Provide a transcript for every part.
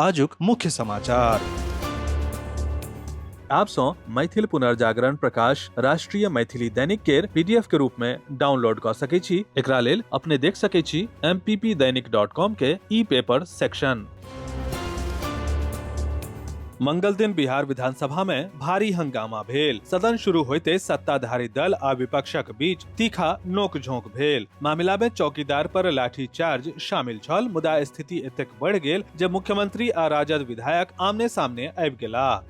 आजुक मुख्य समाचार आप सौ मैथिल पुनर्जागरण प्रकाश राष्ट्रीय मैथिली दैनिक केर पीडीएफ के रूप में डाउनलोड क सके छी एकरा लेल अपने देख सके छी mppdainik.com के ई पेपर सेक्शन मंगल दिन बिहार विधानसभा में भारी हंगामा भेल सदन शुरू होते सत्ताधारी दल आ विपक्षक बीच तीखा नोकझोंक भेल मामिला में चौकीदार पर लाठी चार्ज शामिल छल मुदा स्थिति एतेक बढ़ि गेल जे मुख्यमंत्री आ राजद विधायक आमने सामने आबि गेलाह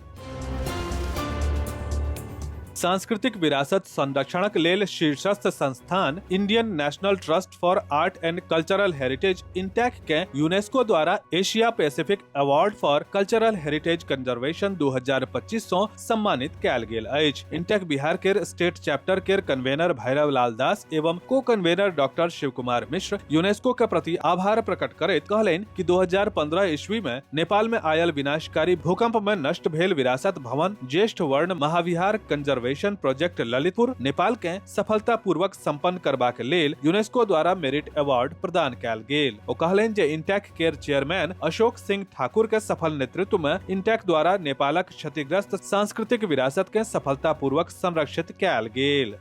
सांस्कृतिक विरासत संरक्षणक लेल शीर्षस्थ संस्थान Indian National Trust for Art and Cultural Heritage INTACH के यूनेस्को द्वारा Asia Pacific Award for Cultural Heritage Conservation 2025 सं सम्मानित कैल गेल अछि इंटेक बिहार केर स्टेट चैप्टर केर कन्वेनर भैरव लाल दास एवं co convenor doctor Shiv Kumar Mishra UNESCO के प्रति आभार प्रकट करैत कहलनि कि 2015 ईस्वी में नेपाल में आयल विनाशकारी भूकंप में नष्ट भेल विरासत भवन ज्येष्ठ वर्ण महाविहार कंजर्वेशन प्रोजेक्ट ललितपुर नेपाल के सफलता पूर्वक सम्पन्न करबाक लेल यूनेस्को द्वारा मेरिट अवार्ड प्रदान कैल गेल ओ कहलनि जे इंटेक केर चेयरमैन अशोक सिंह ठाकुर के सफल नेतृत्व में इंटेक द्वारा नेपालक क्षतिग्रस्त सांस्कृतिक विरासत के सफलतापूर्वक संरक्षित कयल गेल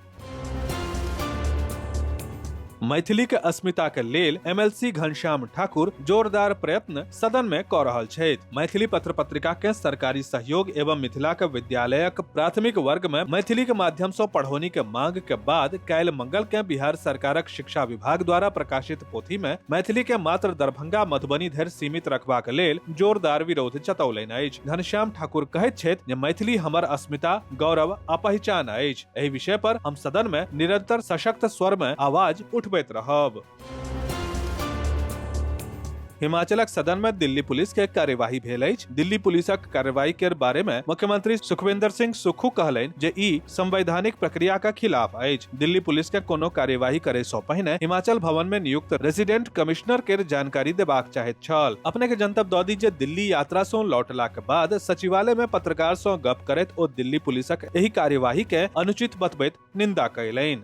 मैथिली के अस्मिता के लेल एमएलसी घनश्याम ठाकुर जोरदार प्रयत्न सदन में क रहल छथि मैथिली पत्र पत्रिका के सरकारी सहयोग एवं मिथिला के विद्यालयक प्राथमिक वर्ग में मैथिली के माध्यम से पढ़ौनी के मांग के बाद काल्हि मंगल के बिहार सरकारक शिक्षा विभाग द्वारा प्रकाशित पोथी में मैथिली के मात्र दरभंगा मधुबनी धरि सीमित रखबाक लेल जोरदार विरोध जतौलनि अछि घनश्याम ठाकुर कहैत छथि जे मैथिली हमर अस्मिता गौरव आ पहचान अछि एहि विषय पर हम सदन में निरंतर सशक्त स्वर में आवाज उठबैत रहब हिमाचलक सदन में दिल्ली पुलिस के कार्यवाही भेल अछि दिल्ली पुलिसक कार्रवाई के बारे में मुख्यमंत्री सुखविंदर सिंह सुक्खू कहलनि जे ई संवैधानिक प्रक्रिया का खिलाफ अछि दिल्ली पुलिस के कोनो कार्यवाही करे सो पहिने हिमाचल भवन में नियुक्त रेसिडेंट कमिश्नर के जानकारी देबाक चाहैत छल अपने के जनतब दऽ दी जे दिल्ली यात्रा सो लौटला के बाद सचिवालय में पत्रकार सो गप करैत ओ दिल्ली पुलिसक एहि कार्यवाही के अनुचित बतबैत निंदा कैलनि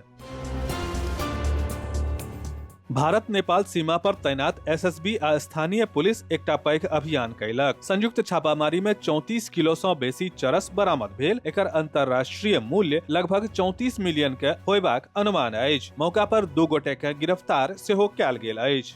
भारत नेपाल सीमा पर तैनात एसएसबी आ स्थानीय पुलिस एकटा पैघ अभियान कैलक संयुक्त छापामारी में 34 किलो सं बेसी चरस बरामद भेल एकर अंतर्राष्ट्रीय मूल्य लगभग 34 मिलियन के होयबाक अनुमान अछि मौका पर दू गोटे के गिरफ्तार सेहो कयल गेल अछि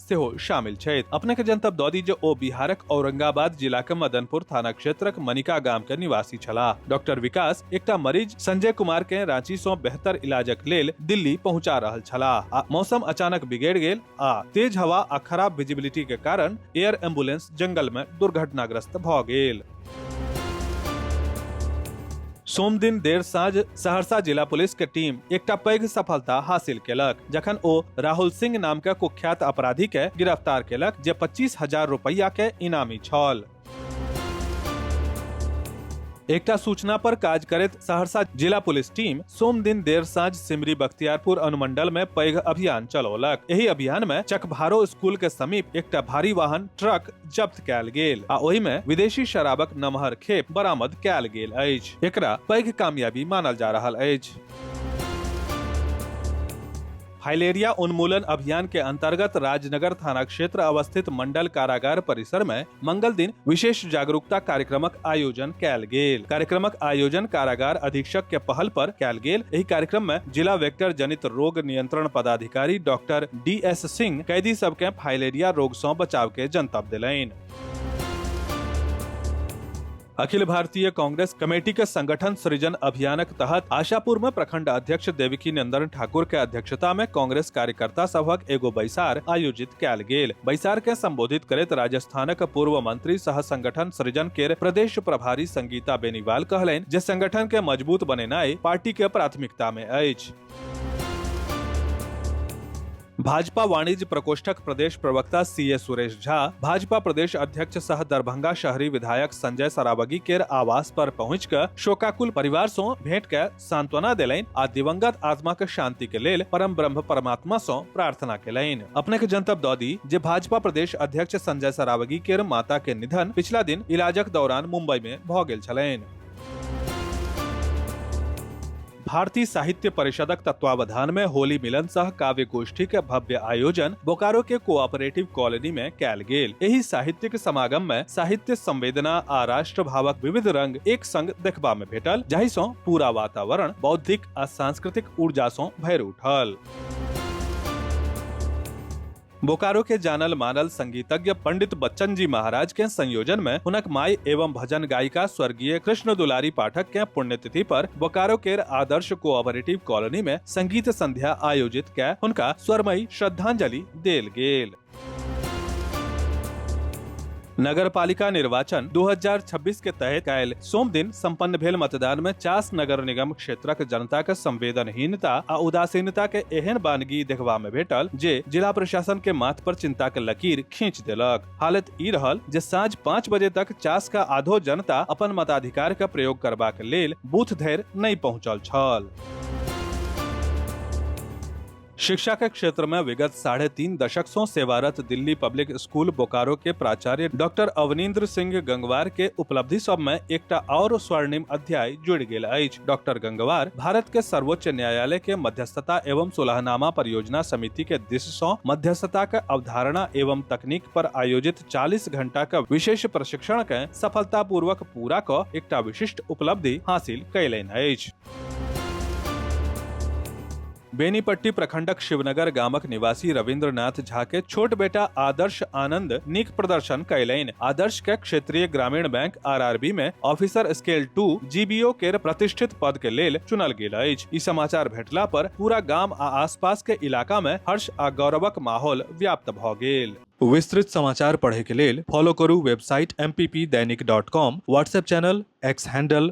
सेहो शामिल छथि अपने के जनतब दऽ दी जे ओ बिहारक औरंगाबाद जिला के मदनपुर थाना क्षेत्रक मनिका गाम के निवासी छलाह डॉक्टर विकास एकटा मरीज संजय कुमार के रांची सं बेहतर इलाजक लेल दिल्ली पहुंचा रहल छलाह आ मौसम अचानक बिगड़ गेल आ तेज हवा आ खराब विजिबिलिटी के कारण एयर एम्बुलेंस जंगल में दुर्घटनाग्रस्त भऽ गेल सोम दिन देर साँझ सहरसा जिला पुलिस के टीम एकटा पैघ सफलता हासिल केलक जखन ओ राहुल सिंह नाम के कुख्यात अपराधी के गिरफ्तार केलक जे पच्चीस हजार रुपैया के इनामी छल एकटा सूचना पर काज करैत सहरसा जिला पुलिस टीम सोम दिन देर साँझ सिमरी बख्तियारपुर अनुमंडल में पैघ अभियान चलौलक एहि अभियान में चकभारो स्कूल के समीप एकटा भारी वाहन ट्रक जब्त कयल गेल आ ओहि में विदेशी शराबक नमहर खेप बरामद कयल गेल अछि एकरा पैघ कामयाबी मानल जा रहल अछि फाइलेरिया उन्मूलन अभियान के अंतर्गत राजनगर थाना क्षेत्र अवस्थित मंडल कारागार परिसर में मंगल दिन विशेष जागरूकता कार्यक्रमक आयोजन कयल गेल कार्यक्रमक आयोजन कारागार अधीक्षक के पहल पर कयल गेल एहि कार्यक्रम में जिला वेक्टर जनित रोग नियंत्रण पदाधिकारी डॉक्टर डी एस सिंह कैदी सबके फाइलेरिया रोग सं बचाव के जनतब दिलैन अखिल भारतीय कांग्रेस कमेटी के संगठन सृजन अभियानक तहत आशापुर में प्रखंड अध्यक्ष देविकी नंदन ठाकुर के अध्यक्षता में कांग्रेस कार्यकर्ता सभक एगो बैसार आयोजित कैल गेल बैसार के संबोधित करत राजस्थानक पूर्व मंत्री सह संगठन सृजन के प्रदेश प्रभारी संगीता बेनीवाल कहलनि जे संगठन के मजबूत बनेनाई पार्टी के प्राथमिकता में अछि भाजपा वाणिज्य प्रकोष्ठक प्रदेश प्रवक्ता सी ए सुरेश झा भाजपा प्रदेश अध्यक्ष सह दरभंगा शहरी विधायक संजय सरावगी केर आवास पर पहुँच कऽ शोकाकुल परिवार सँ भेंट कऽ सांत्वना देलनि आ दिवंगत आत्मा के शांति के लेल परम ब्रह्म परमात्मा सँ प्रार्थना केलनि अपने के जनतब दऽ दी जे भाजपा प्रदेश अध्यक्ष संजय सरावगी केर माता के निधन पिछला दिन इलाजक दौरान मुंबई में भऽ गेल छलनि भारतीय साहित्य परिषदक तत्वावधान में होली मिलन सह काव्य गोष्ठी के भव्य आयोजन बोकारो के कोऑपरेटिव कॉलोनी में कैल गेल एही साहित्यिक समागम में साहित्य संवेदना आ राष्ट्र भावक विविध रंग एक संग देखबा में भेटल जाहि सं पूरा वातावरण बौद्धिक आ सांस्कृतिक ऊर्जा सं भरि उठल बोकारो के जानल मानल संगीतज्ञ पंडित बच्चन जी महाराज के संयोजन में हुनक माई एवं भजन गायिका स्वर्गीय कृष्ण दुलारी पाठक के पुण्यतिथि पर बोकारो के आदर्श कोऑपरेटिव कॉलोनी में संगीत संध्या आयोजित के हुनका स्वरमयी श्रद्धांजलि देल गेल नगर पालिका निर्वाचन 2026 के तहत कयल सोम दिन संपन्न भेल मतदान में चास नगर निगम क्षेत्रक जनता के संवेदनहीनता आ उदासीनता के एहन बानगी देखबा में भेटल जे जिला प्रशासन के माथ पर चिंता के लकीर खींच देलक हालत ई रहल जे साँझ पाँच बजे तक चास का आधो जनता अपन मताधिकार के प्रयोग करबाक लेल बूथ धरि नहि पहुंचल छल शिक्षा के क्षेत्र में विगत साढ़े तीन दशक सो सेवारत दिल्ली पब्लिक स्कूल बोकारो के प्राचार्य डॉक्टर अवनींद्र सिंह गंगवार के उपलब्धि सब में एकटा और स्वर्णिम अध्याय जुड़ गेल अछि डॉक्टर गंगवार भारत के सर्वोच्च न्यायालय के मध्यस्थता एवं सुलहनामा परियोजना समिति के दिश सो मध्यस्थता के अवधारणा एवं तकनीक पर आयोजित 40 घंटा के विशेष प्रशिक्षण के सफलतापूर्वक पूरा क एकटा विशिष्ट उपलब्धि हासिल कयलनि अछि बेनीपट्टी प्रखंडक शिवनगर गामक निवासी रविंद्रनाथ झा के छोट बेटा आदर्श आनंद नीक प्रदर्शन कयलनि आदर्श के क्षेत्रीय ग्रामीण बैंक आरआरबी में ऑफिसर स्केल टू जीबीओ के प्रतिष्ठित पद के लेल चुनल गेल अछि ई समाचार भेटला पर पूरा गाम आ आसपास के इलाका में हर्ष आ गौरवक माहौल व्याप्त भऽ गेल विस्तृत समाचार पढ़े के लेल फॉलो करू website M Dainik dot com WhatsApp channel X handle